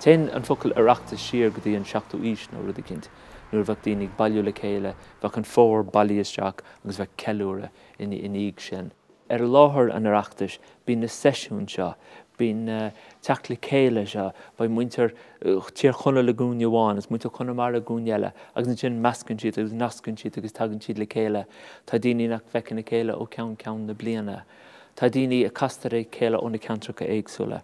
Téann an focal Oireachtas siar go dtí an seachtú aois nó rud eicínt. Nuair a bheadh daoine ag bailiú le chéile, bheadh an fómhar bailithe isteach agus bheadh ceiliúradh ina dhiaidh sin. Ar láthair an Oireachtais, bíonn na seisiúin seo, bíonn na. teacht le chéile seo, beidh muintir Thír Chonaill i gcúinne amháin agus muintir Chonamara i gcúinne eile agus ansin meascann siad agus nascann siad agus tagann siad le chéile. Tá daoine nach bhfeiceann a chéile ó cheann ceann na bliana. Tá daoine a chastar a chéile ó na ceantracha éagsúla.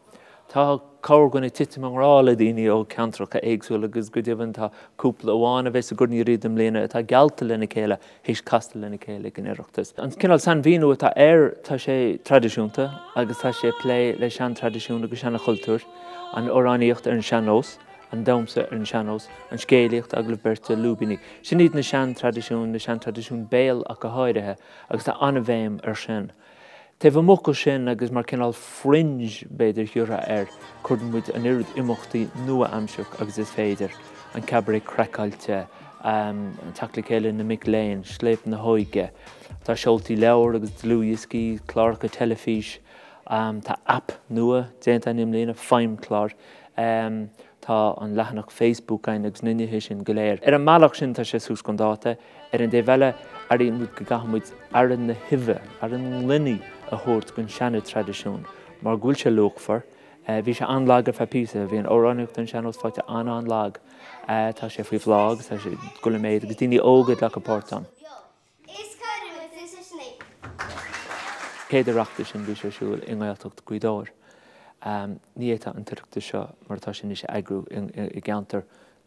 Tá corrdhuine ag titim i ngrá le daoine ó cheantracha éagsúla agus go deimhin tá cúpla amháin a bheas sa gCorn Uí Riada i mbliana atá geallta lena chéile. th'éis castáil lena chéile ag an Oireachtas. An cineál sainmhíniú atá air, tá sé traidisiúnta agus tá sé ag plé le seantraidisiúin agus seanchultúir, an amhránaíocht ar an sean-nós, an damsha ar an sean-nós, an scéalaíocht, agallamh beirte, lúibíní. Sin iad na seantraidisiúin, na seantraidisiúin béil ach go háirithe, agus tá an-bhéim ar sin. Taobh amuigh de sin, agus mar cineál fringe, b'fhéidir, a thabhairt air, cuireann muid an oiread imeachtaí nua-aimseartha agus is féidir, an Cabaret Craiceáilte, an teacht le chéile na mic léinn, Scléip na hÓige, tá seoltaí leabhar agus dlúthdhioscaí, cláracha teilifís, tá aip nua déanta againn i mbliana, Feidhmchlár. Tá an leathanach Facebook againn agus na nithe sin go léir. Ar an mbealach sin, tá sé suas chun dáta. Ar an dtaobh eile, airíonn muid go gcaithfidh muid aire na huibhe, aire na gloine a thabhairt don seana-traidisiún mar go bhfuil sé luachmhar. Bhí sé an-lag ar feadh píosa. Bhí an amhránaíocht ar an sean-nós fáite an-an-lag. Tá sé faoi bhláth agus tá sé ag dul i méid agus daoine óga ag glacadh páirt ann. An chéad Oireachtas sin, bhí sé ar siúl i nGaeltacht Ghaoth Dobhair. Ní fhéadfá an tOireachtas seo mar atá sé anois a eagrú i gceantar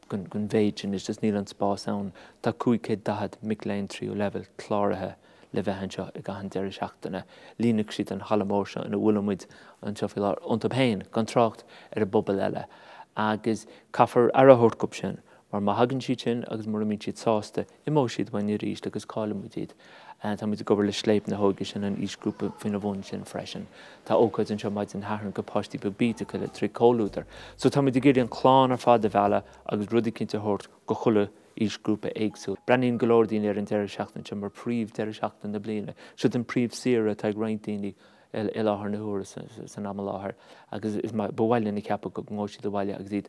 den mhéid sin, is just níl an spás ann. Tá cúig chéad daichead mic léinn tríú leibhéal cláraithe le bheith anseo i gcaitheamh an deireadh seachtaine. Líonfaidh siad an halla mór seo ina bhfuil muid anseo faoi láthair iontu féin, gan trácht ar an bpobal eile. Agus caithfear aire a thabhairt dhób sin, mar má thagann siad sin agus mura mbíonn siad sásta, Imeoidh siad uainn arís agus caillfidh muid iad. Tá muid ag obair le Scléip na hÓige, sin an aoisghrúpa faoina bhun sin freisin. Tá ócáid anseo maidin Shathairn go páistí beag bídeacha le trí Comhluadar. So tá muid ag iarraidh an clann ar fad a mhealladh agus rud eicínt a thabhairt go chuile aoisghrúpa éagsúil. Breathnaíonn go leor daoine ar an deireadh seachtain seo mar príomh deireadh seachtaine na bliana. Siod an príomh saoire atá ag roinnt daoine i láthair na huaire san am i láthair agus ba mhaith linn a cheapadh go ngabhfaidh siad abhaile agus iad